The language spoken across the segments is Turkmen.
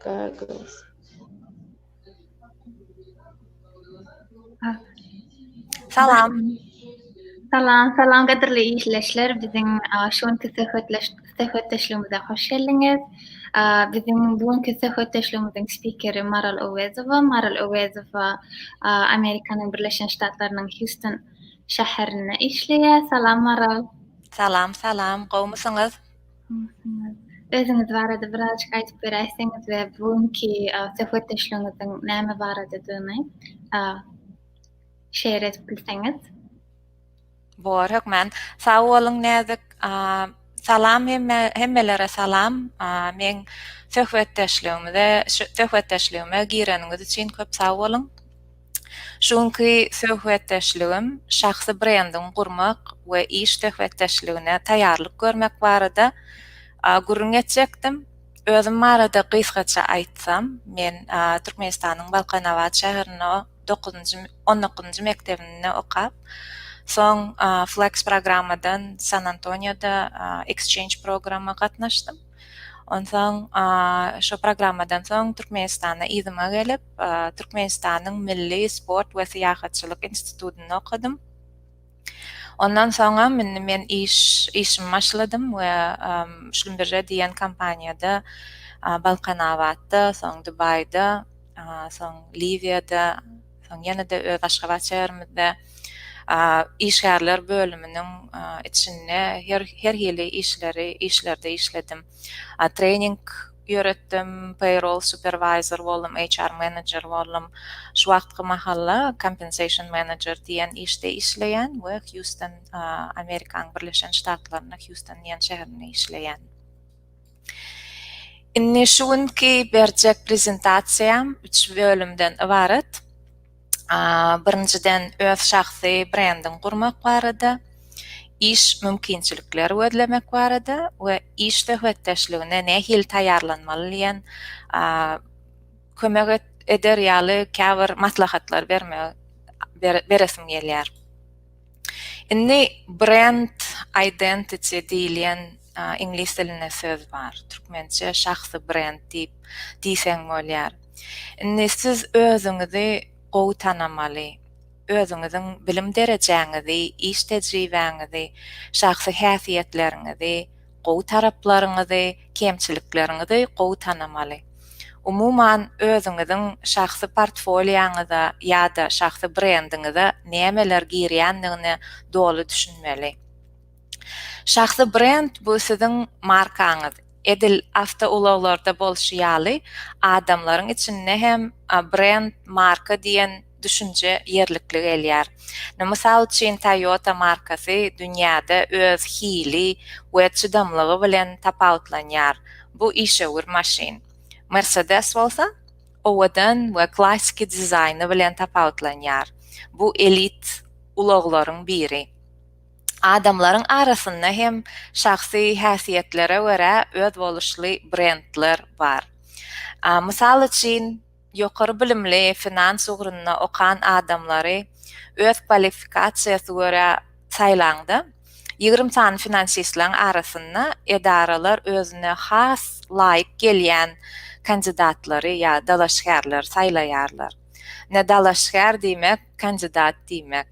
Goggles. Salam. Salam, salam gadirli işleşler. Biziň şu günki söhbetdeşligimize hoş geldiňiz. Biziň bu günki söhbetdeşligimiziň spikeri Maral Owezowa. Maral Owezowa Amerikanyň Birleşen Ştatlarynyň Houston şäherinde işleýär. Salam Maral. Salam, salam. Gowmysyňyz? Özüňiz barada birazajyk aýdyp beräýseňiz we bu günki söhbetdeşligiňiziň näme baradadygyny şeýer edip bilseňiz. Bor, hökman. Sag boluň, näzik. Salam hemme, hemmelere salam. Meň söhbetdeşligimize, söhbetdeşligime gireniňiz üçin köp sag boluň. Şu günki söhbetdeşligim şahsy brendiňi gurmak we iş söhbetdeşligine taýýarlyk görmek barada gürrüň etjekdim. Özüm barada gysgaça aýtsam, men Türkmenistanyň Balkanabat şäherinde dokuzynjy, on dokuzynjy mekdebinde okap, soň Flex programmadan San Antonioda exchange programma gatnaşdym. Onsoň şo programmadan soň Türkmenistana yzyma gelip, Türkmenistanyň Milli sport we syýahatçylyk institutynda okadym. Ondan soňam indi men iş işimi başladym we Şlumbirre diýen kompaniýada Balkanabatda, soň Dubaýda, soň Liwiýada, soň ýene-de öz Aşgabat şäherimizde işgärler bölüminiň içinde her her hili işleri işlerde işledim. Trening ýöretdim, payroll supervisor boldum, HR manager boldum. Şu wagtky mahalla compensation manager diýen işde işleýän we Hýuston, Amerikanyň Birleşen Ştatlarynda Hýuston diýen şäherinde işleýän. Indi şu günki berjek prezentasiýam üç bölümden ybarat. birinjiden öz şahsy brendiňi gurmak barada, iş mümkinçilikleri gözlemek barada we iş söhbetdeşligine nähili taýýarlanmaly diýen kömek eder ýaly käbir maslahatlar bermegi beresim gelýär. Indi brend identity diýilýän iňlis dilinde söz bar. Türkmençe şahsy brend diýip diýseň bolýar. Indi siz özüňizi gowy tanamaly, özüňiziň bilim derejäňizi, iş tejribäňizi, şahsy häsiýetleriňizi, Gowy taraplaryňyzy, kemçilikleriňizi gowy tanamaly. Umuman, özüňiziň şahsy portfolýoňyza ýa-da şahsy brendiňize nämeler girýändigine doly düşünmeli. Şahsy brend bu siziň markaňyz. Edil awtoulaglarda bolşy ýaly, adamlaryň içinde hem brend, marka diýen düşünje ýerlikli gelýär. Ine, mysal üçin, Toyota markasy dünýäde öz hili we çydamlygy bilen tapawutlanýar, bu işewür maşyn. Mercedes bolsa, owadan we klassiki dizaýny bilen tapawutlanýar, bu elit ulaglaryň biri. Adamlaryň arasynda hem şahsy häsiýetlere görä özboluşly brendler bar. Mysal üçin. Ýokary bilimli, finans ugrunda okan adamlary öz kwalifikasiýasy görä saýlaňda, ýigrimi sany finansistleň arasynda edaralar özüne has laýyk gelýän kandidatlary ýa dalaşgärleri saýlaýarlar. Ine, dalaşgär diýmek, kandidat diýmek.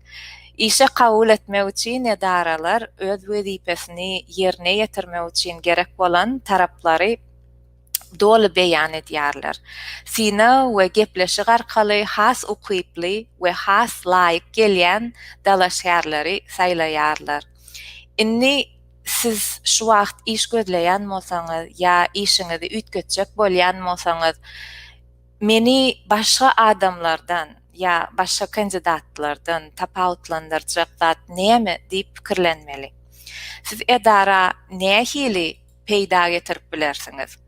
Işe kabul etmek üçin edaralar öz wezipesini ýerine ýetirmek üçin gerek bolan taraplary, doly beýan edýärler. Synag we gepleşik arkaly has ukyply we has laýyk gelýän dalaşgärleri saýlaýarlar. Indi siz şu wagt iş gözleýän bolsaňyz ýa işiňizi üýtgetjek bolýan bolsaňyz, meni başga adamlardan ýa başga kandidatlardan tapawutlandyrjak zat näme diýip pikirlenmeli. Siz edara nähili peýda getirip bilersiňiz.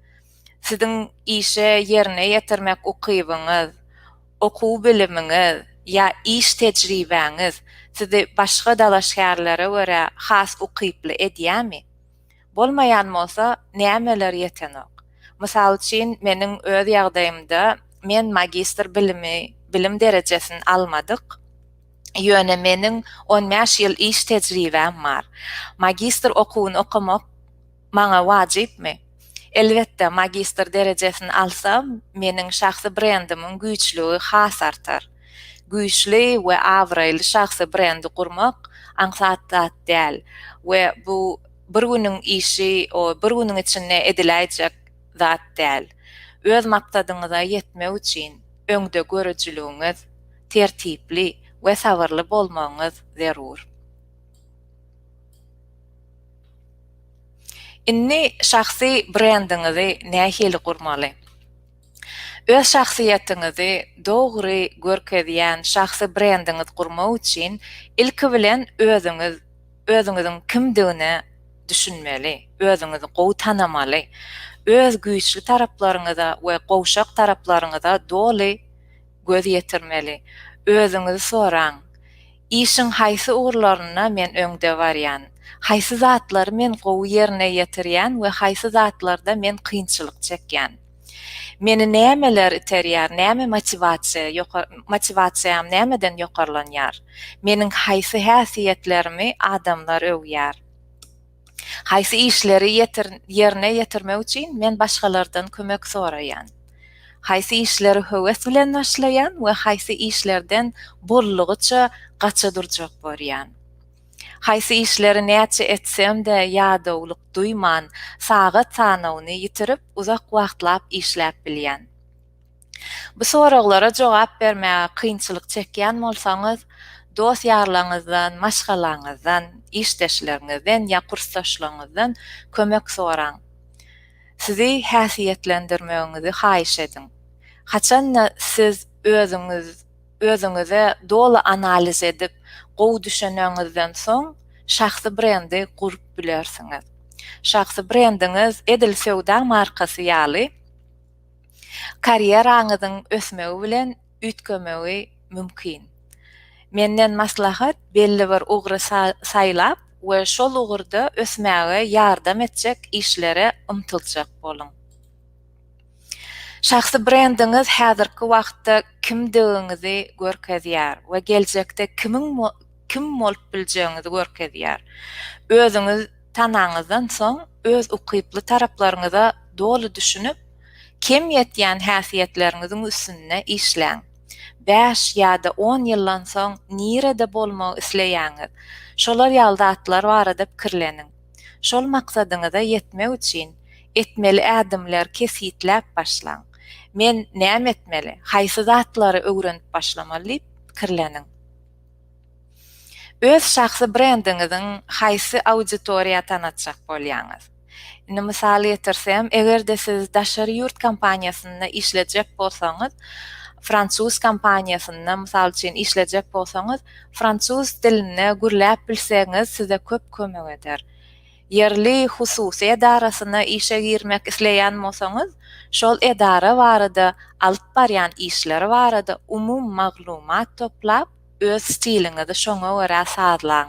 Siziň işe ýerine ýetirmek ukybyňyz, okuw bilimiňiz ýa iş tejribäňiz sizi başga dalaşgärlere görä has ukyply edýämi? Bolmaýan bolsa, nämeler ýetenok? Mysal üçin, meniň öz ýagdaýymda men magistr bilimi, bilim derejesini almadyk. Ýöne meniň 15 ýyl iş tejribäm bar. Magistr okuwyny okamak maňa wajypmy? Elbetde, magistr derejesini alsam, meniň şahsy brendimiň güýçlügi has artar. Güýçli we abraýly şahsy brendi gurmak aňsat zat däl we bu bir günüň işi, bir günüň içinde ediläýjek zat däl. Öz maksadyňyza ýetmek üçin öňdegörüjiligiňiz tertipli we sabyrly bolmagyňyz zerur. Indi şahsy brendiňizi nähili gurmaly? Öz şahsyýetiňizi dogry görkezýän şahsy brendiňiz gurmak üçin ilki bilen özüňiz özüňiziň kimdigine düşünmeli, özüňizi gowy tanamaly, öz güýçli taraplaryňyza we gowşak taraplaryňyza doly göz ýetirmeli. Özüňizi soraň, Işiň haýsy ugurlarynda men öňde barýan? Haýsy zatlary men gowy ýerine ýetirýän we haýsy zatlarda men kynçylyk çekýän? Meni nämeler iterýär, näme motiwasiýa, motiwasiýam nämeden ýokarlanýar? Meniň haýsy häsiýetlerimi adamlar öwýär? Haýsy işleri ýerine ýetirmek üçin men başgalardan kömek soraýan? Haýsy işleri höwes bilen başlaýan we haýsy işlerden boldugyça gaça durjak borýan? Haýsy işleri näçe etsem-de ýadawlyk duýman, sagat sanawyny ýitirip uzak wagtlap işläp bilýän? Bu soraglara jogap bermäge kynçylyk çekýän bolsaňyz, dost-ýarlaryňyzdan, maşgalaňyzdan, işdeşleriňizden ýa kursdaşlaryňyzdan kömek soraň. Sizi häsiýetlendirmegiňizi haýyş ediň. Haçan-da siz özüňiz özüňize doly analiz edip, gowy düşüneniňizden soň, şahsy brendi gurup bilersiňiz. Şahsy brendiňiz edil söwda markasy ýaly. Karýeraňyzyň ösmegi bilen üýtgemegi mümkin. Menden maslahat belli bir ugry saýlap we şol ugurda ösmäge ýardam etjek işlere ymtyljak boluň. Şahsy brendiňiz häzirki wagtda kimdigiňizi görkezýär we geljekde kimiň kim bolup biljegiňizi görkezýär. Özüňiz tanaňyzdan soň öz ukyply taraplaryňyza doly düşünip, kem ýetýän häsiýetleriňiziň üstünde işläň. Bäş ýa-da on ýyldan soň nirede bolmagy isleýäňiz? Şolar ýaly zatlar barada pikirleniň. Şol maksadyňyza ýetmek üçin etmeli ädimleri kesgitläp başlaň. Men näme etmeli, haýsy zatlary öwrenip başlamaly diýip pikirleniň. Öz şahsy brendiňiziň haýsy auditoriýa tanatjak bolýaňyz? Indi mysal getirsem, eger-de siz daşary ýurt kompaniýasynda işlejek bolsaňyz, fransuz kompaniýasynda mysal üçin işlejek bolsaňyz, fransuz dilinde gürläp bilseňiz size köp kömek eder. Ýerli hususy edarasyna işe girmek isleýän bolsaňyz, şol edara barada, alyp barýan işleri barada umumy maglumat toplap, öz stiliňizi şoňa görä sazlaň.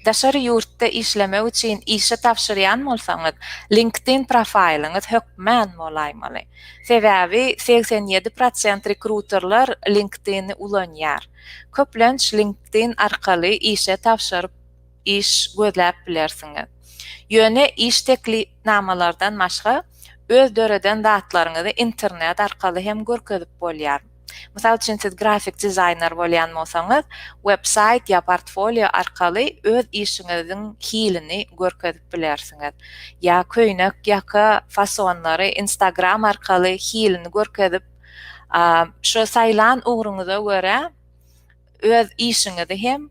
Daşary ýurtda işlemek üçin işe tabşyrýan bolsaňyz, LinkedIn profaýlyňyz hökmän bolaýmaly. Sebäbi segsen ýedi prosent rekruterler LinkedIn-i ulanýar. Köplenç LinkedIn arkaly işe tabşyryp iş gözläp bilersiňiz. Ýöne iş teklipnamalardan başga, öz döreden zatlaryňyzy internet arkaly hem görkezip bolýar. Mysal üçin, siz grafik dizaýner bolýan bolsaňyz, websaýt ýa portfolio arkaly öz işiňiziň hilini görkezip bilersiňiz. Ýa köýnek, ýaka, fasonlary Instagram arkaly hilini görkezip, şo saýlan ugruňyza görä, öz işiňizi hem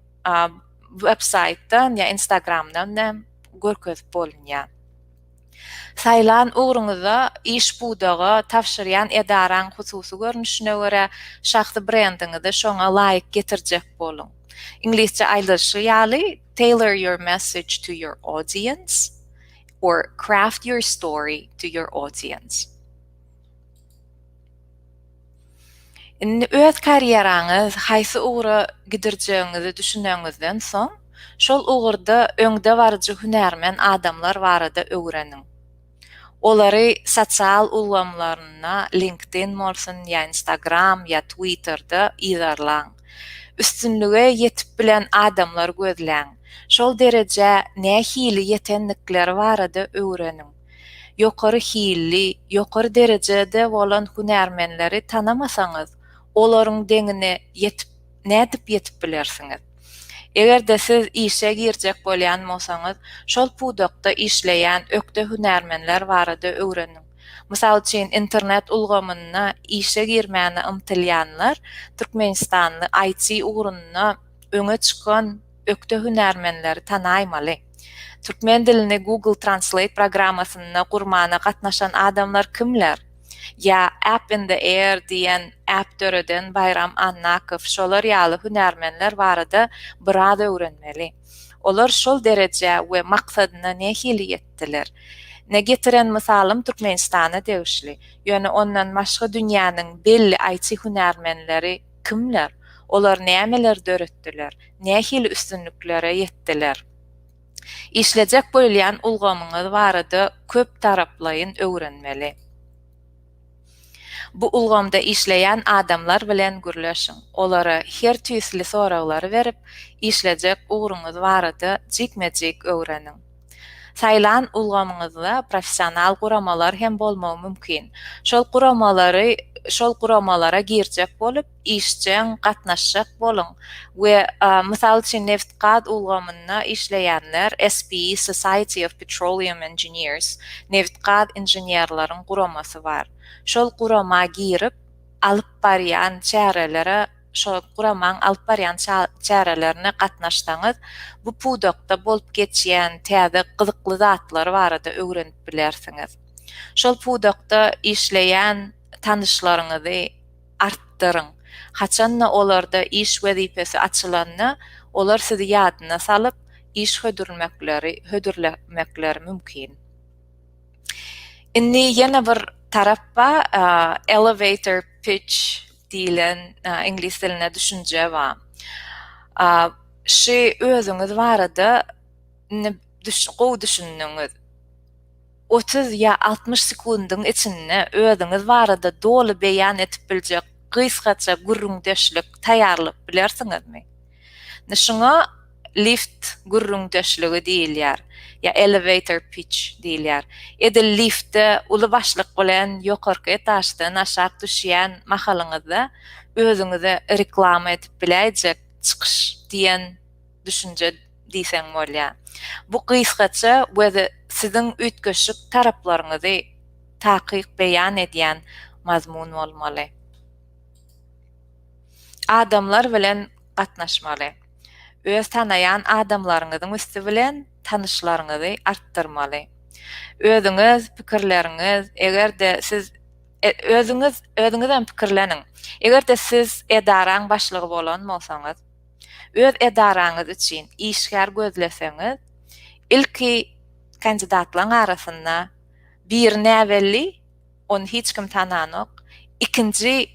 web saýtdan ýa instagramdan hem görkezip bolunýar. Saýlan ugruňyzda iş pudaga tabşyrýan edaraň hususy görnüşine görä şahsy brendiňizi şoňa laýyk getirjek boluň. Iňlisçe aýdylyşy ýaly tailor your message to your audience or craft your story to your audience. Indi öz karýeraňyz haýsy ugra gidirjegiňizi düşüneňizden soň, şol ugurda öňdebaryjy hünärmen adamlar barada öwreniň. Olary sosial ulgamlarynda, LinkedIn bolsun, ýa Instagram, ýa Twitter-de yzarlaň. Üstünlige ýetip bilen adamlary gözläň. Şol derejä nähili ýetendikleri barada öwreniň. Ýokary hilli, ýokary derejede bolan hünärmenleri tanamasaňyz, olaryň deňine ýetip, nädip ýetip bilersiňiz? Eger-de siz işe girjek bolýan bolsaňyz, şol pudakda işleýän ökde hünärmenler barada öwreniň. Mysal üçin, internet ulgamyna işe girmäne ymtylýanlar türkmenistanly IT ugrunda öňe çykan ökde hünärmenleri tanaýmaly. Türkmen dilini Google Translate programmasynda gurmana gatnaşan adamlar kimler? Ýa App in the Air diýen app döreden Baýram Annakow şolar ýaly hünärmenler barada biraz öwrenmeli. Olar şol derejä we maksadyna nähili ýetdiler? Ne getiren mysalym Türkmenistana degişli. Ýöne ondan başga dünýäniň belli IT hünärmenleri Kimler? Olar nämeleri döretdiler? Nähili üstünliklere ýetdiler? Işlejek bolýan ulgamyňyz barada köp taraplaýyn öwrenmeli. Bu ulgamda işleýän adamlar bilen gürleşiň, olara her tüýsli soraglary berip, işlejek ugruňyz barada jikme-jik öwreniň. Saýlan ulgamyňyzda professional guramalar hem bolmagy mümkin. Şol guramalary şol guramalara girjek bolup, işjeň gatnaşjak boluň we, mysal üçin, nebit-gaz ulgamynda işleýänler, SPE, Society of Petroleum Engineers, nebit-gaz inženerleriň guramasy bar. Şol gurama girip, alyp barýan çärelere Şu guramaň alyp barýan çärelerine gatnaşsaňyz, bu pudakda bolup geçýän täze gyzykly zatlar barada öwrenip bilersiňiz. Şol pudakda işleýän tanyşlaryňyzy artdyryň. Haçan-da olarda iş wezipesi açylanda, olar sizi ýadyna salyp, iş hödürmekleri hödürlemekleri mümkin. Indi ýene bir tarap bar, elevator pitch. diýlen iňlis dilinde düşünje bar. Şu özüňiz barada indi gowy düşündiňiz. 30 ýa 60 sekundyň içinde özüňiz barada doly beýan edip biljek gysgaça gürrüňdeşlik taýýarlap bilersiňizmi? Şuňa lift gürrüňdeşligi diýilýär, ýa elevator pitch diýilýär. Edil liftde uly başlyk bilen ýokarky etaždan aşak düşýän mahalyňyzda özüňize reklama edip biläýjek çykyş diýen düşünje diýseň bolýar. Bu gysgaça we siziň üýtgeşik taraplaryňyzy takyk beýan edýän mazmun bolmaly. Adamlar bilen gatnaşmaly. Öz tanaýan adamlaryňyzyň üsti bilen tanyşlaryňyzy artdyrmaly. Özüňiz, pikirleriňiz, eger-de siz özüňiz, özüňizem pikirleniň. Eger-de siz edaraň başlygy bolan bolsaňyz, öz edaraňyz üçin işgär gözleseňiz, ilki kandidatlaň arasynda biri näbelli Ony hiç kim tananok. Ikinji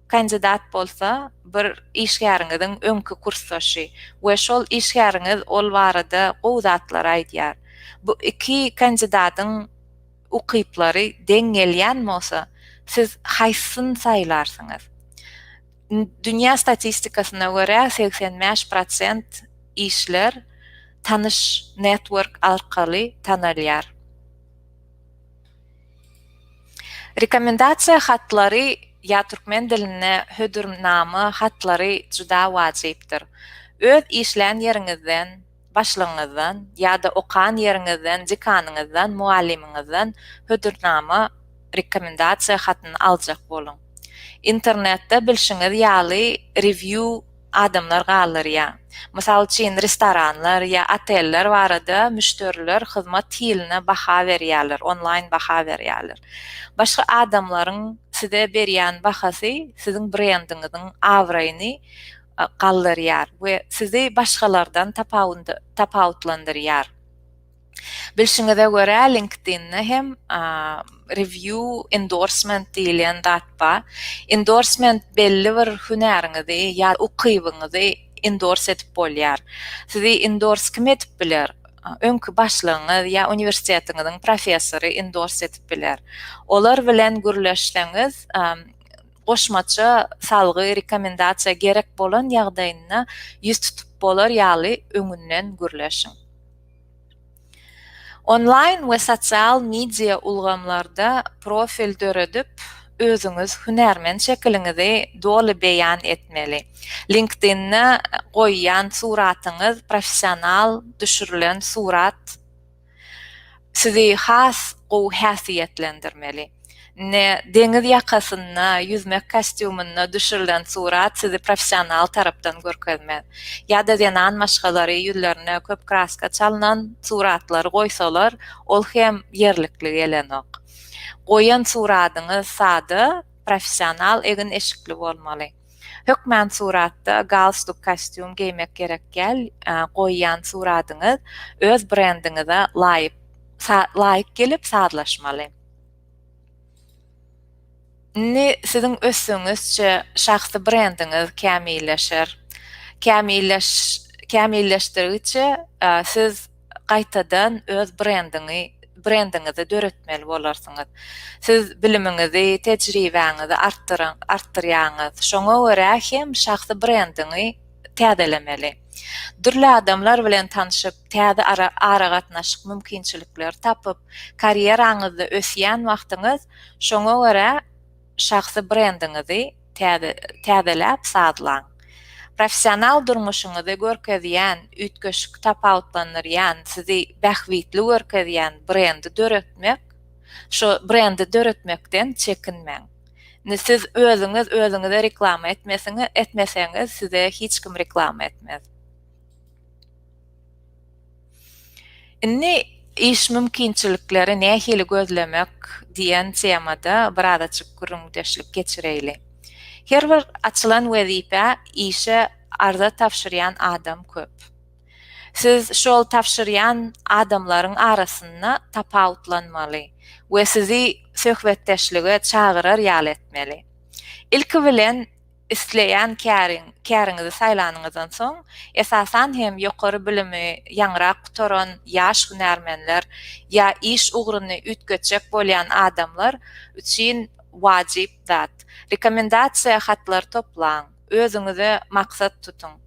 kandidat bolsa bir işgäriňiziň öňki kursdaşy we şol işgäriňiz ol barada gowy zatlar aýdýar. Bu iki kandidadyň ukyplary deň gelýän bolsa, siz haýsysyny saýlarsyňyz? Dünýä statistikasyna görä, segsen bäş prosent işler tanyş network arkaly tanalýar. Rekomendasiýa hatlary ýa türkmen dilinde hödürnama hatlary juda wajypdyr. Öz işlän ýeriňizden, başlygyňyzdan, ýa-da okan ýeriňizden, dekanyňyzdan, mugallymyňyzdan hödürnama, rekomendasiýa hatyny aljak boluň. Internetde bilşiňiz ýaly rewýu, adamlar galdyrýar. Mysal üçin, restoranlar ýa oteller barada müşderiler hyzmat hiline baha berýärler, onlaýn baha berýärler. Başga adamlaryň size berýän bahasy siziň brendiňiziň abraýyny galdyrýar we sizi başgalardan tapawutlandyrýar. Bilşiňize görä, LinkedIn-de hem review endorsement diýilýän zat bar. Endorsement belli bir hünäriňizi ýa ukybyňyzy endorse edip bolýar. Sizi endorse kim edip biler? Öňki başlygyňyz ýa uniwersitetiňiziň professory endorse edip biler. Olar bilen gürleşseňiz, goşmaça salgy, rekomendasiýa gerek bolan ýagdaýynda ýüz tutup bolar ýaly öňünden gürleşiň. Onlaýn we sosial media ulgamlarda profil döredip, özüňiz hünärmen şekiliňizi doly beýan etmeli. LinkedIn-de goýýan suratyňyz professional düşürilen surat sizi has gowy häsiýetlendirmeli. Indi deňiz ýakasynda ýüzmek kostýumynda düşürilen surat sizi professional tarapdan görkezmez. Ýa-da zenan maşgalary ýüzlerine köp kraska çalnan suratlary goýsalar, ol hem ýerlikli gelenok. Goýan suratyňyz sada, professional egin-eşikli bolmaly. Hökmän suratda galstuk kostýum geýmek gerek däl, goýýan suratyňyz öz brendiňize laýyk laýyk gelip sazlaşmaly. Indi siziň ösdügiňizçe şahsy brendiňiz kämilleşer. Kämilleş kämilleşdirigiçe siz gaýtadan öz brendiňi brendiňizi döretmeli bolarsyňyz. Siz bilimiňizi, tejribäňizi artdyryň artdyrýaňyz. Şoňa görä hem şahsy brendiňi täzelemeli. Dürli adamlar bilen tanşyp, täze aragatnaşyk mümkinçilikleri tapyp, karýeraňyzda ösýän wagtyňyz, şoňa görä şahsy brendiňizi täzeläp sazlaň. Professional durmuşyňyzy görkezýän, üýtgeşik tapawutlandyrýan, sizi bähbitli görkezýän brendi döretmek, şo brendi döretmekden çekinmäň. Indi siz özüňiz özüňize reklama etmesiňiz, etmeseňiz size hiç kim reklama etmez. Indi iş mümkinçilikleri nähili gözlemek diýen temada biraz açyk gürrüňdeşlik geçireýli. Her bir açylan wezipä işe arza tabşyrýan adam köp. Siz şol tabşyrýan adamlaryň arasynda tapawutlanmaly we sizi söhbetdeşlige çagyrar ýaly etmeli. Ilki bilen, isleýän käriň, käriňizi saýlanyňyzdan soň, esasan hem ýokary bilimi ýaňyrak gutaran ýaş hünärmenler ýa iş ugruny üýtgetjek bolýan adamlar üçin wajyp zat, rekomendasiýa hatlary toplaň, özüňize maksat tutuň.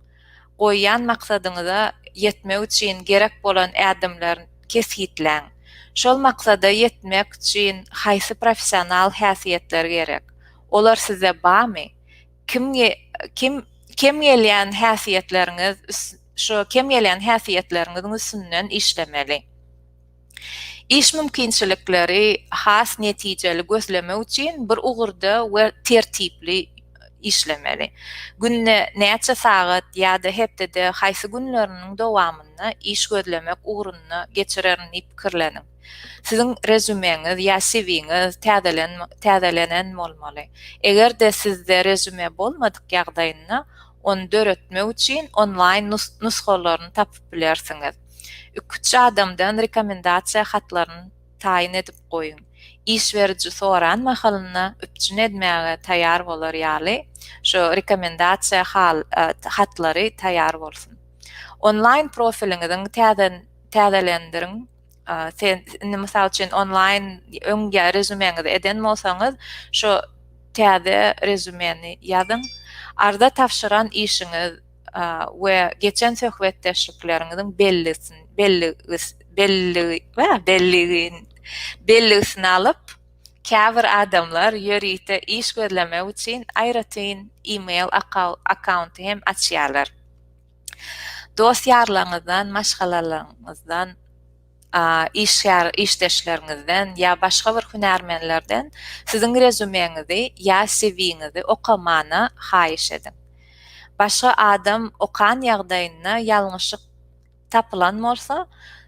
Goýýan maksadyňyza ýetmek üçin gerek bolan ädimler kesgitläň. Şol maksada ýetmek üçin haýsy professional häsiýetler gerek? Olar sizde barmy? Kim kim kem gelýän häsiýetleriňiz şu kem gelýän häsiýetleriňiziň üstünden işlemeli. Iş mümkinçilikleri has netijeli gözlemek üçin bir ugurda we tertipli işlemeli. Günde näçe sagat ýa-da hepdede haýsy günleriniň dowamynda iş gözlemek ugrunda geçirerin diýip pikirleniň. Siziň rezýumeňiz ýa CV-ňiz täzelenen bolmaly. Eger-de sizde rezýume bolmadyk ýagdaýynda, Ony döretmek üçin onlaýn nusgalaryny tapyp bilersiňiz. Iki-üç adamdan rekomendasiýa hatlaryny taýyn edip goýuň. Iş beriji soran mahalynda üpjün edmäge taýýar bolar ýaly şu rekomendasiýa hatlary taýýar bolsun. Onlaýn profiliňiziň täzelendirin. sen indi mysal üçin onlaýn öň ýa rezumeňizi eden bolsaňyz şu täze rezumeni ýazyň arza tabşyran işiňiz we geçen söhbetdeşlikleriňiziň bellisini belli belli we belligin bellisini alyp käbir adamlar ýörite iş gözlemek üçin aýratyn email akkaunty hem açýarlar dost-ýarlaryňyzdan, maşgalalaryňyzdan, işgär işdeşleriňizden ýa başga bir hünärmenlerden siziň rezumeňizi ýa CV-ňizi okamana haýyş ediň. Başga adam okan ýagdaýynda ýalňyşyk tapylan bolsa,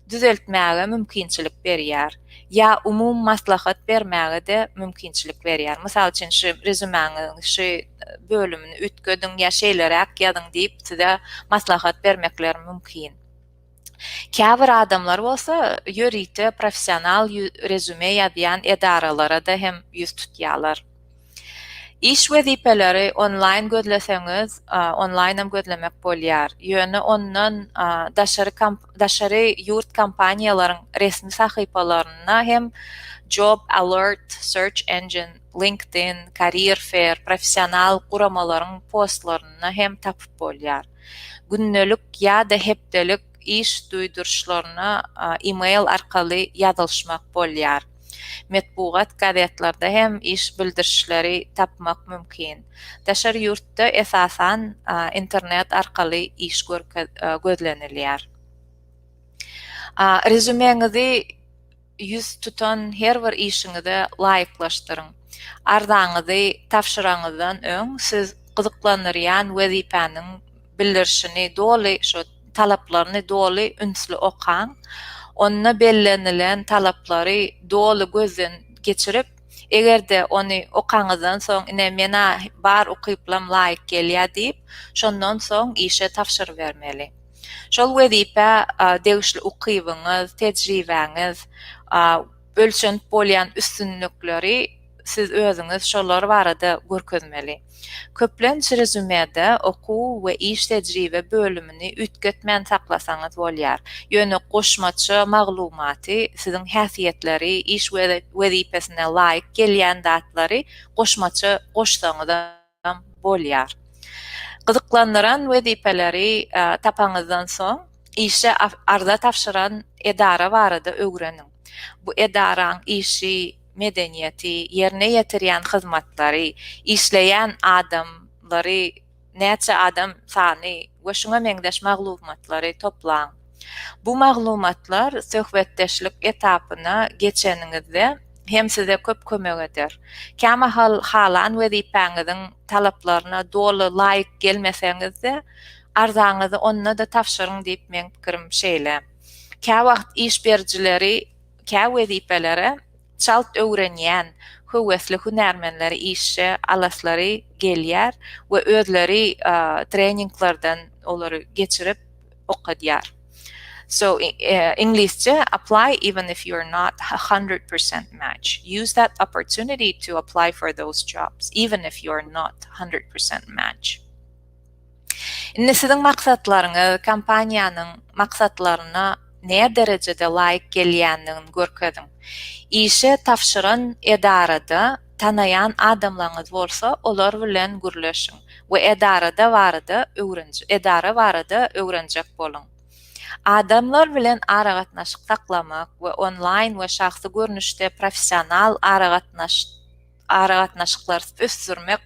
düzeltmäge mümkinçilik berýär. Ýa umumy maslahat bermäge-de mümkinçilik berýär. Mysal üçin şu rezümäňiziň şu bölümini üýtgediň ýa şeýleräk ýazyň diýip size maslahat bermekleri mümkin. Käbir adamlar bolsa ýörite professional rezüme ýazýan edaralara-da hem ýüz tutýarlar. Iş wezipeleri onlaýn gözleseňiz, onlaýn hem gözlemek bolýar. Ýöne ondan daşary daşary ýurt kompaniýalaryň resmi sahypalarynda hem Job Alert, Search Engine, LinkedIn, Career Fair, professional guramalaryň postlarynda hem tapyp bolýar. Gündelik ýa-da hepdelik iş duýduryşlaryna e-mail arkaly ýazylyşmak bolýar. metbugat gazetlerde hem iş bildirişleri tapmak mümkin. Daşary ýurtda esasan internet arkaly iş gözlenilýär. Rezümeňizi ýüz tutan her bir işiňize laýyklaşdyryň. Arzaňyzy tabşyraňyzdan öň siz gyzyklandyrýan wezipäniň bildirişini doly talaplaryny doly ünsli okaň. Onda bellenilen talaplary doly gözden geçirip, eger-de ony okaňyzdan soň ine menä bar ukyplam laýyk gelýär diýip, şondan soň işe tabşyrybermeli. Şol wezipä degişli ukybyňyz, tejribäňiz, ölçenip bolýan üstünlikleri siz özüňiz şolar barada görkezmeli. Köplenç rezümede okuw we iş tejribe bölümini üýtgetmän saklasaňyz bolýar, ýöne goşmaça maglumaty, siziň häsiýetleri, iş wezipesine laýyk gelýän zatlary goşmaça goşsaňyzam. hem bolýar. Gyzyklandyran wezipeleri tapaňyzdan soň, işe arza tabşyran edara barada öwreniň. Bu edaraň işi, medeniýeti, ýerine ýetirýän hyzmatlary, işleýän adamlary, näçe adam sany we şuňa meňzeş maglumatlary toplaň. Bu maglumatlar söhbetdeşlik etapyna geçeniňizde hem size köp kömek eder. Kämahal halan wezipäňiziň talaplaryna doly laýyk gelmeseňiz-de, arzaňyzy onda-da tabşyryň diýip meň pikirim şeýle. Käwagt iş berijileri kä wezipelere çalt öwrenýän höwesli hünärmenleri işe alaslary gelýär we özleri treninglerden olary geçirip, okadýar. So Inglizce apply even if you're not 100% match. Use that opportunity to apply for those jobs even if you're not 100% match. Indi siziň maksatlaryňyz kompaniýanyň maksatlaryna ne derejede laýyk gelýändigini görkeziň. Işe tabşyran edarada Tanaýan adamlaryňyz bolsa, olar bilen gürleşiň we edarada barada edara barada öwrenjek boluň. Adamlar bilen aragatnaşyk saklamak we onlaýn we şahsy görnüşde professional aragatnaşyklary ösdürmek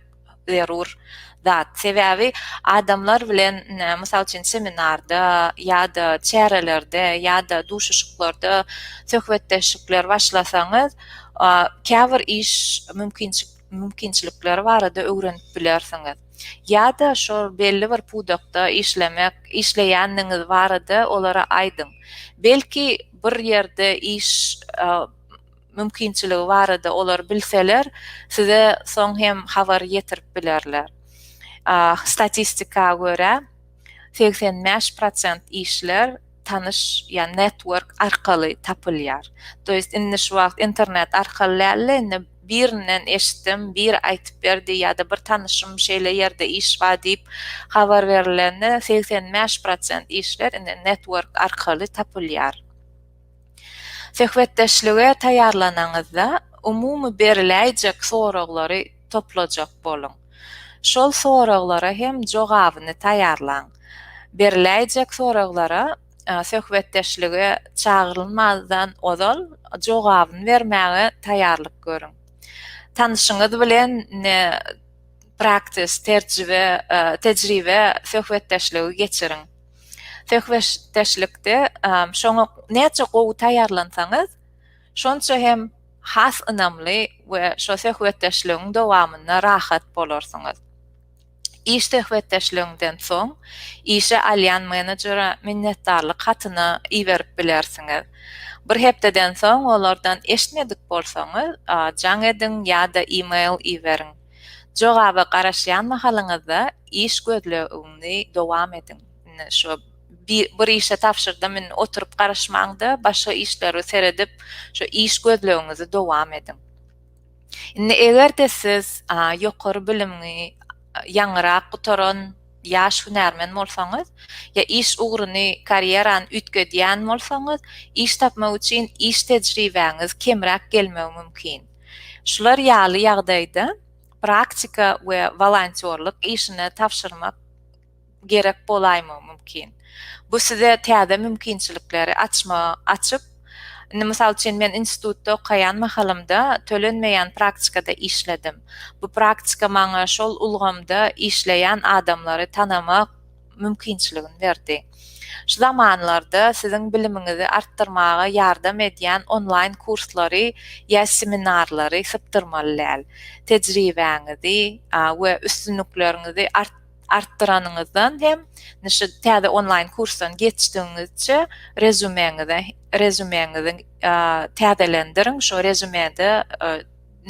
zerur zat. Sebäbi adamlar bilen mysal üçin seminarda ýa-da çärelerde ýa-da duşuşyklarda söhbetdeşlikler başlasaňyz, käbir iş mümkinçilikleri barada öwrenip bilersiňiz. Ýa-da şol belli bir pudakda işlemek, işleýändigiňiz barada olara aýdyň. Belki bir ýerde iş mümkinçiligi barada olar bilseler, size soň hem habar ýetirip bilerler. Statistika görä, segsen bäş prosent işler tanyş ýa network arkaly tapylýar. To ýest indi şu wagt internet arkaly däl-de, indi birinden eşitdim, biri aýtyp berdi ýa-da bir tanyşym şeýle ýerde iş bar diýip habar berilende segsen bäş prosent işler indi network arkaly tapylýar. Söhbetdeşlige taýýarlanaňyzda, umumy beriläýjek soraglary toplajak boluň. Şol soraglara hem jogabyny taýýarlaň. Beriläýjek soraglara söhbetdeşlige çagyrylmazdan ozal jogabyny bermäge taýýarlyk görüň. Tanyşyňyz bilen praktis, terjibe, tejribe söhbetdeşligi geçiriň. Söhbetdeşlikde şoňa näçe gowy taýýarlansaňyz, şonça hem has ynamly we şo söhbetdeşligiň dowamynda rahat bolarsyňyz. Iş söhbetdeşligiňden soň işe alýan menejere minnetdarlyk hatyny iberip bilersiňiz. Bir hepdeden soň olardan eşitmedik bolsaňyz, jaň ediň ýa-da e-mail iberiň. Jogaba garaşýan mahalyňyzda iş gözlegiňizi dowam ediň. Indi şu bir işe tabşyrdym, indi oturyp garaşmaň-da, başga işleri seredip, şu iş gözlegiňizi dowam ediň. Indi eger-de siz ýokary bilimli, ýaňyrak gutaran ýaş hünärmen bolsaňyz, ýa iş ugruny, karýerany üýtgedýän bolsaňyz, iş tapmak üçin iş tejribäňiz kemräk gelmegi mümkin. Şular ýaly ýagdaýda praktika we wolontýorlyk işine tabşyrmak gerek bolaýmagy mümkin. Bu size täze mümkinçilikleri açma, açyp, indi mysal üçin men institutda okaýan mahalymda tölenmeýän praktikada işledim. Bu praktika maňa şol ulgamda işleýän adamlary tanamak, mümkinçiligini berdi. Şu zamanlarda siziň bilimiňizi artdyrmaga ýardam edýän onlaýn kurslary ýa seminarlary sypdyrmaly däl. Tejribäňizi we üstünlikleriňizi artdyranyňyzdan hem şu täze onlaýn kursdan geçdigiňizçe rezümeňizi rezümeňizi täzelendirin şu rezümede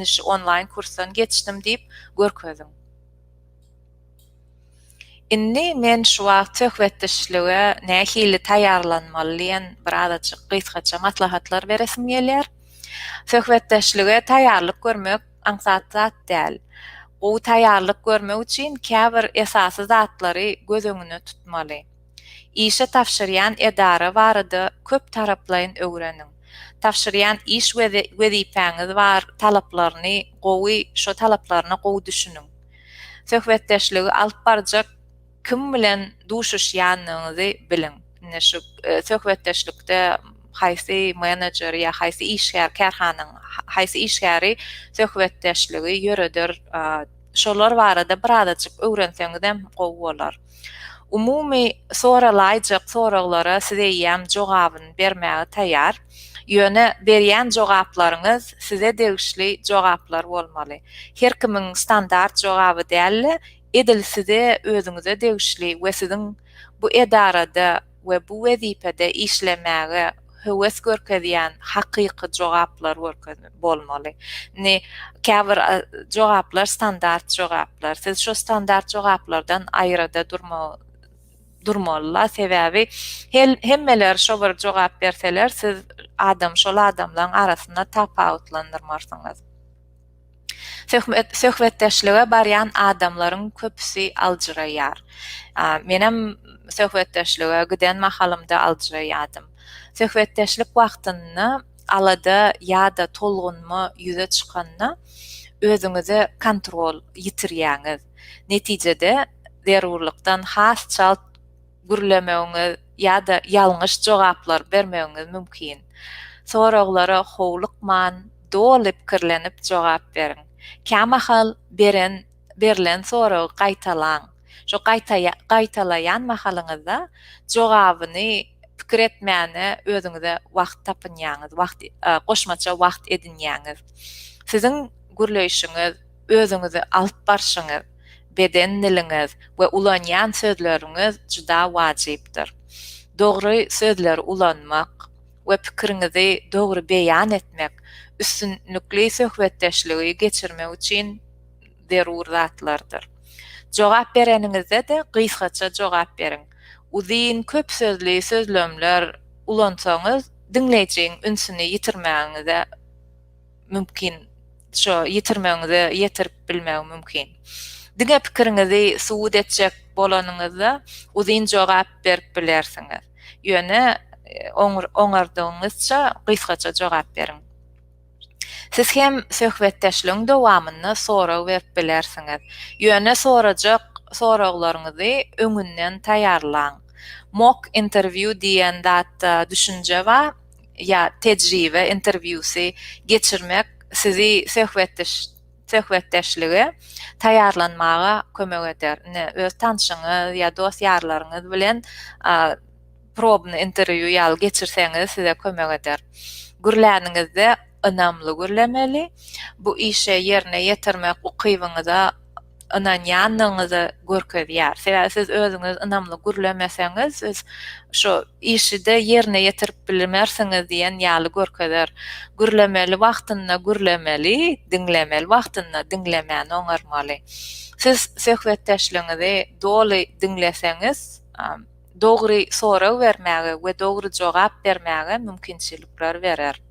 şu onlaýn kursdan geçdim diýip görkeziň. Indi men şu wagt söhbetdeşlige nähili taýýarlanmaly diýen bir azajyk gysgaça maslahatlar beresim gelýär. Söhbetdeşlige taýýarlyk görmek aňsat zat däl. Gowy taýýarlyk görmek üçin käbir esasy zatlary göz öňüne tutmaly. Işe tabşyrýan edara barada köp taraplaýyn öwreniň. Tabşyrýan iş we wezipäňiz bar talaplaryny gowy şo talaplaryna gowy düşüniň. Söhbetdeşligi alyp barjak kim bilen duşuşýanyňyzy biliň. Indi şu söhbetdeşlikde haýsy menejer ýa haýsy işgär kärhanaň haýsy işgäri söhbetdeşligi ýöreder şolar barada birazajyk öwrenseňizem gowy bolar. Umumy soralaýjak soraglara siz eýýäm jogabyny bermäge taýýar. Ýöne berýän jogaplaryňyz size degişli jogaplar bolmaly. Her kimiň standart jogaby däl-de, edil size özüňize degişli we siziň bu edarada we bu wezipede işlemäge höwes görkezýän hakyky jogaplar görkezip bolmaly. Indi käbir jogaplar standart jogaplar. Siz şu standart jogaplardan aýrada durmagy durmalylar. Sebäbi hemmeler şo bir jogap berseler, siz adam şol adamlaryň arasynda tapawutlandyrmarsyňyz. Söhbetdeşlige barýan adamlaryň köpüsi aljyraýar. Menem söhbetdeşlige giden mahalymda aljyraýardym. Söhbetdeşlik wagtynda alada ýa-da tolgunma ýüze çykanda özüňize kontrol ýitirýäňiz. Netijede zerurlykdan has çalt gürlemegiňiz ýa-da ýalňyş jogaplar bermegiňiz mümkin. Soraglara howlukman, doly pikirlenip jogap beriň. Kämahal beren, berlen soragy gaýtalaň. Şo gaýtaýa, gaýtalaýan mahalyňyzda jogabyny pikir etmäne özüňize wagt tapynýaňyz, wagt, goşmaça wagt edinýäňiz. Siziň gürleýşiňiz. Özüňizi alyp barşyňyz, beden diliňiz we ulanýan sözleriňiz juda wajypdyr. Dogry sözleri ulanmak we pikiriňizi dogry beýan etmek üstünlikli söhbetdeşligi geçirmek üçin zerur zatlardyr. Jogap bereniňizde-de gysgaça jogap beriň. Uzyn, köp sözli sözlemler ulansaňyz, diňleýjiň ünsüni ýitirmäňize mümkin şo ýitirmegiňize ýetirip bilmegi mümkin. Diňe pikiriňizi subut etjek bolanyňyzda uzyn jogap berip bilersiňiz. Ýöne oňardygyňyzça gysgaça jogap beriň. Siz hem söhbetdeşligiň dowamynda sorag berip bilersiňiz. Ýöne sorajak soraglaryňyzy öňünden taýýarlaň. Mock interview diýen zatda düşünje bar. ýa tejribe interwýusy geçirmek sizi söhbetdeşlige taýýarlanmaga kömek eder. Ine, öz tanşyňyz ýa dost-ýarlaryňyz bilen probny interwýu ýaly geçirseňiz size kömek eder. Gürläniňizde ynamly gürlemeli. Bu işe ýerine ýetirmek ukybyňyza ynanýandygyňyzy görkezýär. Sebäbi siz özüňiz ynamly gürlemeseňiz, siz şu işi-de ýerine ýetirip bilmersiňiz diýen ýaly görkezer. Gürlemeli wagtynda gürlemeli, diňlemeli wagtynda diňlemäni oňarmaly. Siz söhbetdeşligiňizi doly diňleseňiz, dogry sorag bermäge we dogry jogap bermäge mümkinçilikler berer.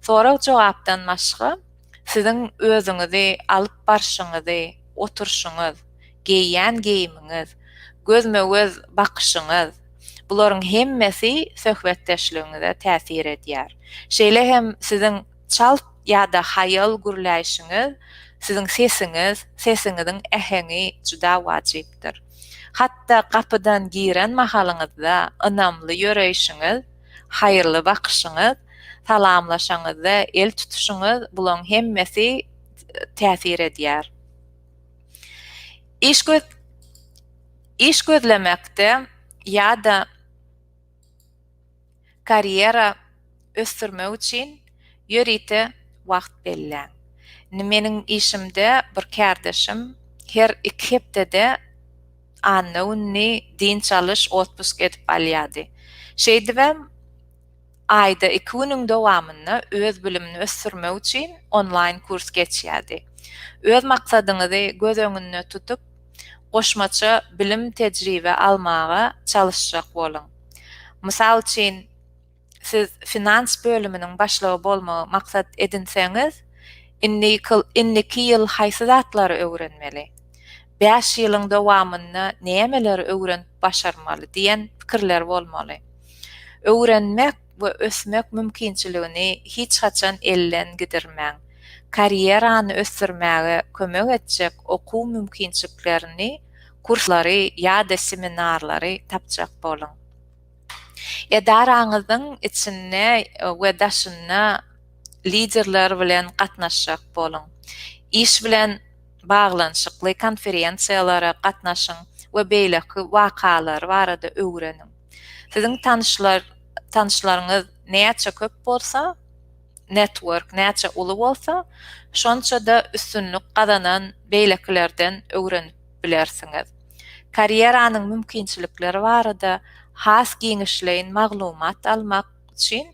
Sorag-jogapdan başga, Siziň özüňizi alyp barşyňyzy, oturşyňyz, geýýän geýimiňiz, gözme-göz bakyşyňyz, bularyň hemmesi söhbetdeşligiňize täsir edýär. Şeýle hem siziň çalt ýa-da haýal gürläýşiňiz, siziň sesiňiz, sesiňiziň äheňi juda wajypdyr. Hatda gapydan giren mahalyňyzda ynamly ýöreýşiňiz, haýyrly bakyşyňyz, salamlaşaňyzda el tutuşyňyz, bulaň hemmesi täsir edýär. Iş göz iş gözlemekde ýa-da karýera ösdürmek üçin ýörite wagt belläň. Meniň işimde bir kärdeşim her iki hepdede Anna gününi dynç alyş, otpusk edip alýardy. Şeýdibem, aýda iki günüň dowamynda öz bilimini ösdürmek üçin onlaýn kurs geçýärdi. Öz maksadyňyzy göz öňünde tutup, goşmaça bilim, tejribe almaga çalyşjak boluň. Mysal üçin. siz finans bölüminiň başlygy bolmagy maksat edinseňiz, indiki ýyl haýsy zatlary öwrenmeli? Bäş ýylyň dowamynda nämeleri öwrenip başarmaly diýen pikirler bolmaly. Öwrenmek we ösmek mümkinçiligini hiç haçan elden gidirmäň. Karýerany ösdürmäge kömek etjek okuw mümkinçiklerini, kurslary ýa-da seminarlary tapjak boluň. Edaraňyzyň içinde we daşynda liderler bilen gatnaşjak boluň. Iş bilen baglanyşykly konferensiýalara gatnaşyň we beýleki wakalar barada öwreniň. Siziň tanyşlaryňyz näçe köp bolsa, network näçe uly bolsa, şonça-da üstünlik gazanan beýlekilerden öwrenip bilersiňiz. Karýeranyň mümkinçilikleri barada has giňişleýin maglumat almak üçin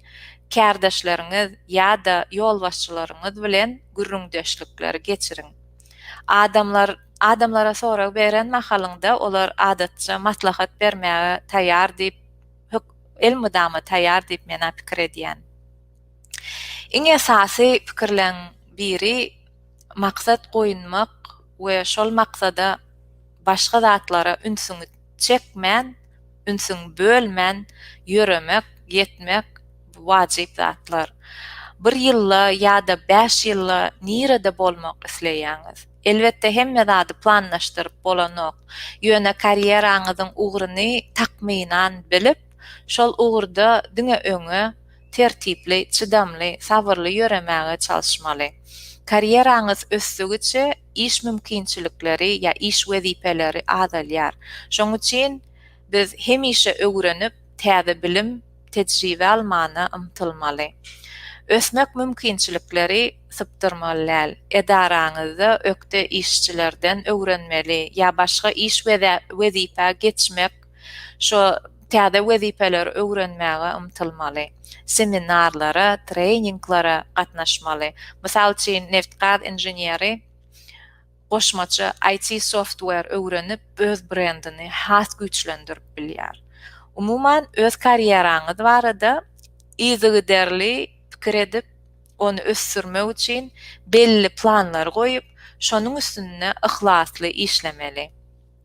kärdeşleriňiz ýa-da ýolbaşçylaryňyz bilen gürrüňdeşlikleri geçiriň. Adamlar adamlara sorag beren mahalyňda olar adatça maslahat bermäge taýýar diýip elmydama taýýar diýip men-ä pikir edýän. Iň esasy pikirleň biri maksat goýunmak we şol maksada başga zatlara ünsüňi çekmän, ünsüňi bölmän ýöremek, ýetmek bu wajyp zatlar. Bir ýylda ýa-da bäş ýylda nirede bolmak isleýäňiz? Elbetde hemme zady planlaşdyryp bolanok. Ýöne karýeraňyzyň ugruny takmynan bilip, şol ugurda diňe öňe, tertipli, çydamly, sabyrly ýöremäge çalyşmaly. Karýeraňyz ösdügiçe iş mümkinçilikleri ýa iş wezipeleri azalýar. Şoň üçin biz hemişe öwrenip, täze bilim, tejribe almana ymtylmaly. Ösmek mümkinçilikleri sypdyrmaly däl. Edaraňyzda ökde işçilerden öwrenmeli ýa başga iş wezipä geçmek Şu täze wezipeleri öwrenmäge ymtylmaly. Seminarlara, treninglara gatnaşmaly. Mysal üçin, neft-gaz inženeri goşmaça IT software öwrenip, öz brendini has güýçlendirip bilýär. Umuman, öz karýeraňyz barada yzygiderli pikir edip, ony ösdürmek üçin belli planlary goýup, şonuň üstünde yhlasly işlemeli.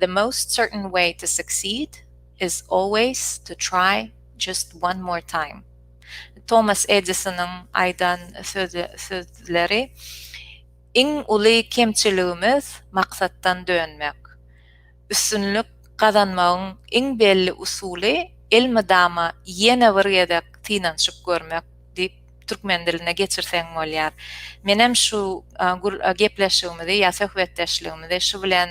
The most certain way to succeed is always to try just one more time. Tomas Edisonyň aýdan sözleri Iň uly kemçiligimiz maksatdan dönmek. Üstünlik gazanmagyň iň belli usuly elmydama ýene bir gezek synanyşyp görmek diýip türkmen diline geçirseň bolýar. Menem şu gepleşigimizi ýa söhbetdeşligimizi şu bilen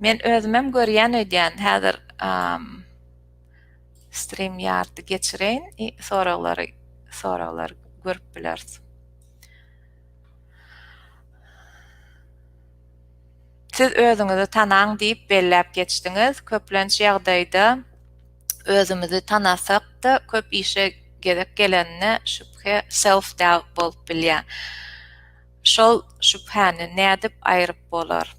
Men özümem görýän öýdýän. Häzir stream ýardy geçireýin i soraglary soraglary görüp bileris. Siz özüňizi tanaň diýip belläp geçdiňiz. Köplenç ýagdaýda özümizi tanasakda köp işe gezek gelenine şübhe self doubt bolup bilýär. Şol şübhäni nädip aýryp bolar?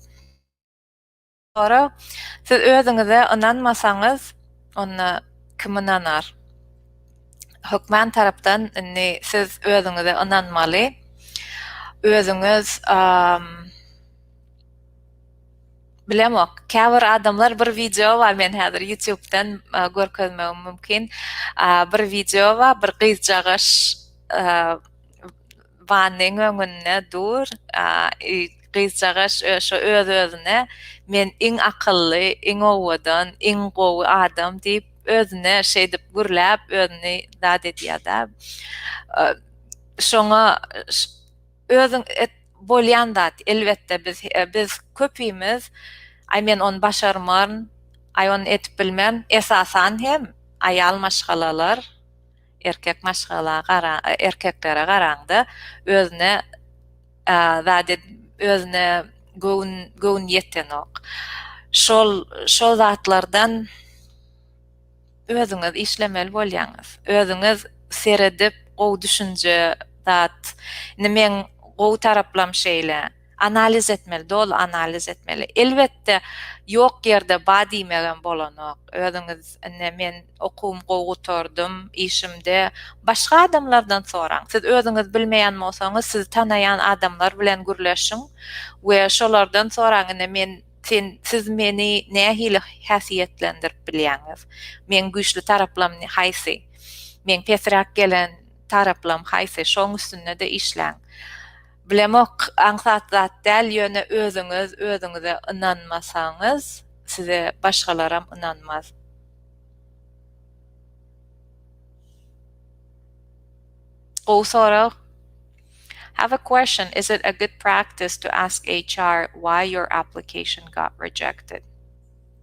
Ora, siz özüňize ynanmasaňyz, onda kim ynanar? Hökman tarapdan indi siz özüňize ynanmaly. Özüňiz bilemok. Käbir adamlar bir wideo bar, men häzir YouTube-dan görkezmegim mümkin. Bir wideo bar, bir gyzjagaş Wannyň öňünde dur, gyzjagaş şo öz-özüne men iň akylly, iň owadan, iň gowy adam diýip özüne şeýdip gürläp özüni zat edýär-dä. Şoňa özüň et bolýan zat elbetde biz biz köpimiz aý men ony başarmaryn, aý ony edip bilmerin esasan hem aýal maşgalalar Erkek maşgala gara, erkeklere garaňda özüne zat ed, özüne göwün göwün ýetenok. Şol şol zatlardan özüňiz işlemeli bolýaňyz. Özüňiz seredip gowy düşünje zat. Indi meň gowy taraplam şeýle. Analiz etmeli, doly analiz etmeli. Elbetde, ýok ýerde ba diýmegem bolanok. Özüňiz, indi men okuwymy gowy gutardym, işimde başga adamlardan soraň. Siz özüňiz bilmeýän bolsaňyz, sizi tanaýan adamlar bilen gürleşiň we şolardan soraň, indi men, sen, siz meni nähili häsiýetlendirip bilýäňiz? Meň güýçli taraplam haýsy? Meň pesräk gelen taraplam haýsy? Şoň üstünde-de işläň. Bilemok, aňsat zat däl, ýöne özüňiz özüňize ynanmasaňyz, size başgalaram ynanmaz. Gowy sorag. Have a question, is it a good practice to ask HR why your application got rejected?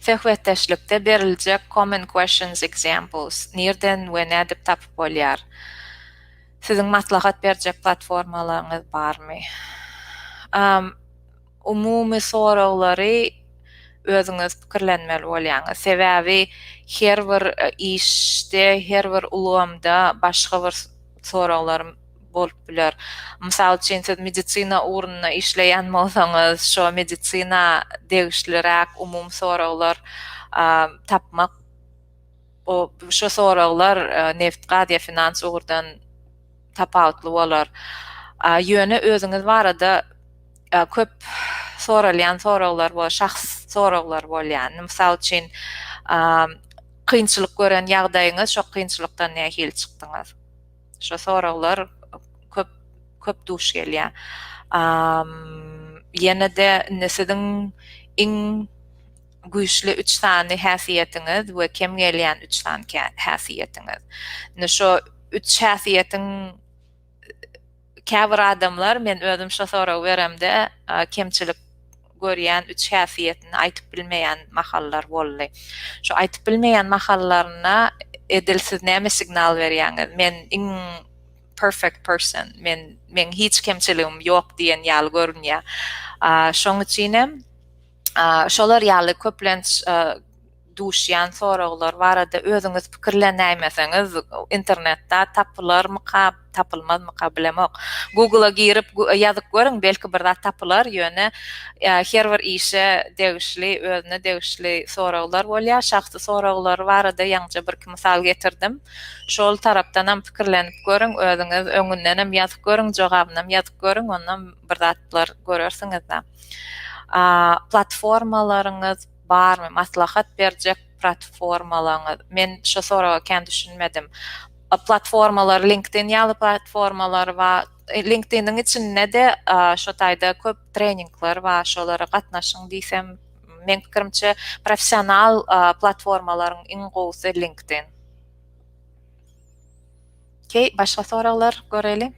Söhbetdeşlikde beriljek Common Questions Examples nirden we nädip tapyp bolýar? Siziň maslahat berjek platformalaryňyz barmy? Umumy soraglary özüňiz pikirlenmeli bolýaňyz. Sebäbi her bir işde, her bir ulgamda başga bir soraglarym bolup biler. Mysal üçin, siz medisina ugrunda işleýän bolsaňyz, şo medisina degişliräk umumy soraglar tapmak, o şo soraglar neft, gaz ýa finans ugurdan tapawutly bolar. Ýöne özüňiz barada köp soralýan soraglar bolar, şahsy soraglar bolýar. Mysal üçin, Kynçylyk gören ýagdaýyňyz, şo kynçylykdan nähili çykdyňyz? Şo soraglar köp köp duş gelýär. Ýene-de indi siziň iň güýçli üç sany häsiýetiňiz we kem gelýän üç sany häsiýetiňiz. Indi şo üç häsiýetiň käbir adamlar men özüm şo soragy beremde kemçilik görýän üç häsiýetini aýtyp bilmeýän mahallar boldy. Şu aýtyp bilmeýän mahallaryna edil siz näme signal berýäňiz? Men iň perfect person, men men hiç kemçiligim ýok diýen ýaly görünýär. Şoň üçin hem şolar ýaly köplenç duşýan soraglar barada özüňiz pikirlenäýmeseňiz internetda tapylarmyka tapylmazmyka bilemok Google-a girip ýazyp görüň belki bir zat tapylar ýöne her bir işe degişli özüne degişli soraglar bolýar şahsy soraglar barada ýaňyja birki mysal getirdim şol tarapdanam pikirlenip görüň özüňiz öňündenem ýazyp görüň jogabynam ýazyp görüň ondan bir zatlar görersiňiz-de platformalaryňyz Barmy maslahat berjek pratformalaňyz? Men şo soraga kän düşünmedim. Platformalar LinkedIn ýaly platformalar bar. LinkedIniň içinde-de şo taýda köp treningler bar. Şolara gatnaşyň diýsem, meň pikirimçe professional platformalaryň iň gowusy LinkedIn. Okey, başga soraglar göreli.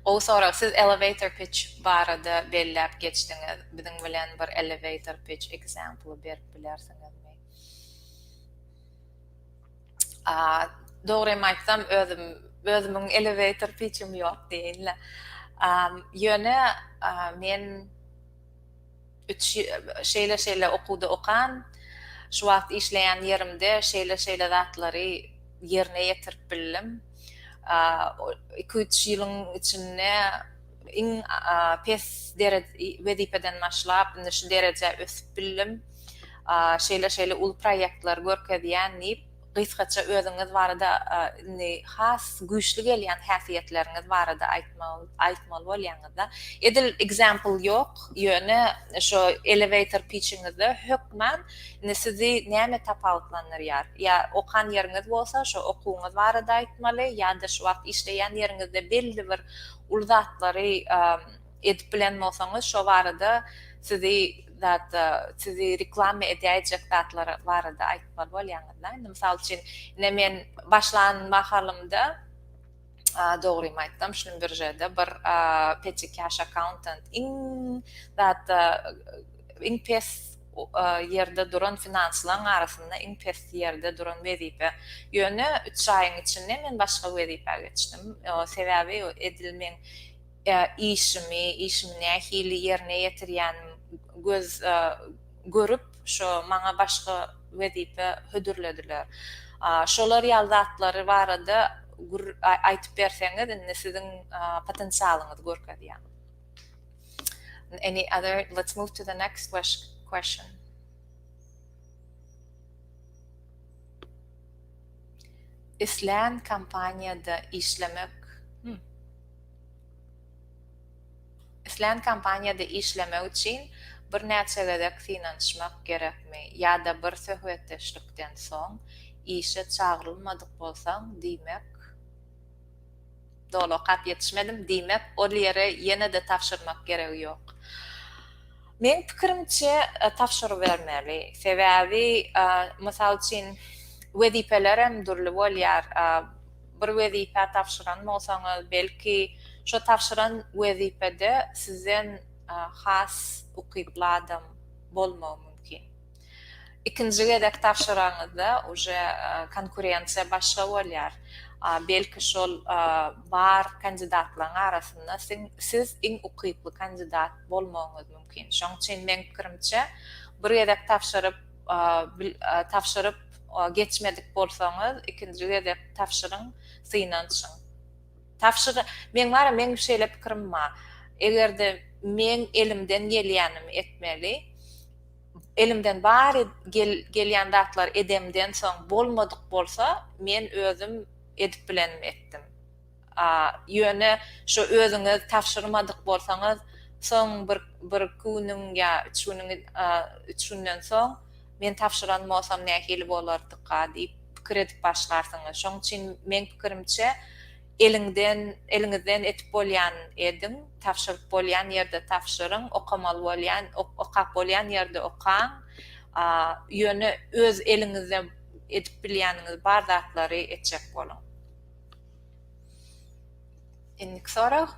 Gowy sorag. Siz elevator pitch barada belläp geçdiňiz. Biziň bilen bir elevator pitch example berip bilersiňizmi? Dogrymy aýtsam, özüm özümiň elevator pitchim ýok diýeýin-le. Ýöne men Üç şeýle-şeýle okuwda okan, şu wagt işleýän ýerimde şeýle-şeýle zatlary ýerine ýetirip bildim. Iki-üç ýylyň içinde iň pes wezipeden başlap, indi şu derejä ösüp bildim. Şeýle-şeýle uly proýektleri görkezýän diýip, Gysgaça özüňiz barada indi has güýçli gelýän häsiýetleriňiz barada aýtmaly bolýaňyzda. Edil example ýok, ýöne şo elevator pitchiňizde hökman indi sizi näme tapawutlandyrýar? Ýa okan ýeriňiz bolsa şo okuwyňyz barada aýtmaly ýa-da şu wagt işleýän ýeriňizde belli bir uly zatlary edip bilen bolsaňyz şo barada sizi zatda sizi reklama edäýjek zatlar barada aýtmaly bolýaňyzda indi mysal üçin ine men başlan mahalymda dogrymy aýtsam şunuň biržede bir peçi cash accountant iň zatda iň pes ýerde duran finanslaryň arasynda iň pes ýerde duran wezipe ýöne üç aýyň içinde men başga wezipä geçdim sebäbi edil men işimi, işimi nähili ýerine ýetirýänim göz görüp, şo maňa başga wezipe hödürlediler. Şolar ýaly zatlary barada gür aýtyp berseňiz, indi siziň potensialyňyzy görkezýäň. Any other, let's move to the next question. Islän kompaniýada işlemek. Islän kompaniýada işlemek üçin birnäçe gezek synanyşmak gerekmi ýa-da bir söhbetdeşlikden soň işe çagyrylmadyk bolsaň, diýmek, doly okap ýetişmedim, diýmek ol ýere ýene-de tabşyrmak geregi ýok. Meň pikirimçe tabşyrybermeli. Sebäbi mysal üçin wezipelerem dürli bolýar. Bir wezipä tabşyran bolsaňyz belki şo tabşyran wezipede sizden has ukyply adam bolmagy mümkin. Ikinji gezek tabşyraňyzda uje konkurensiýa başga bolýar. Belki şol bar kandidatlaryň arasynda siz iň ukyply kandidat bolmagyňyz mümkin. Şoň üçin meň pikirimçe bir gezek tabşyryp tabşyryp geçmedik bolsaňyz ikinji gezek tabşyryň synanyşyň. Tabşyr meň bara meň şeýle pikirim bar. Egerde meň elimden gelýänimi etmeli. Elimden bar gelýän zatlary edemden soň bolmadyk bolsa men özüm edip bilenimi etdim. Ýöne şo özüňiz tabşyrmadyk bolsaňyz soň bir bir iki günüň ýa üç günüň üç günden soň men tabşyran bolsam nähili bolardyka diýip pikir edip başlarsyňyz. Şoň üçin meň pikirimçe Eliňden, eliňizden edip bolýan ediň, tabşyryp bolýan ýerde tabşyryň, okamaly bolýan, okap bolýan ýerde okaň. Ýöne öz eliňizde edip bilýäniňiz bar zatlary etjek boluň. Indiki sorag.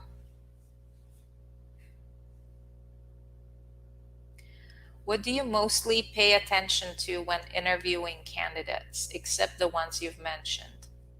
What do you mostly pay attention to when interviewing candidates, except the ones you've mentioned?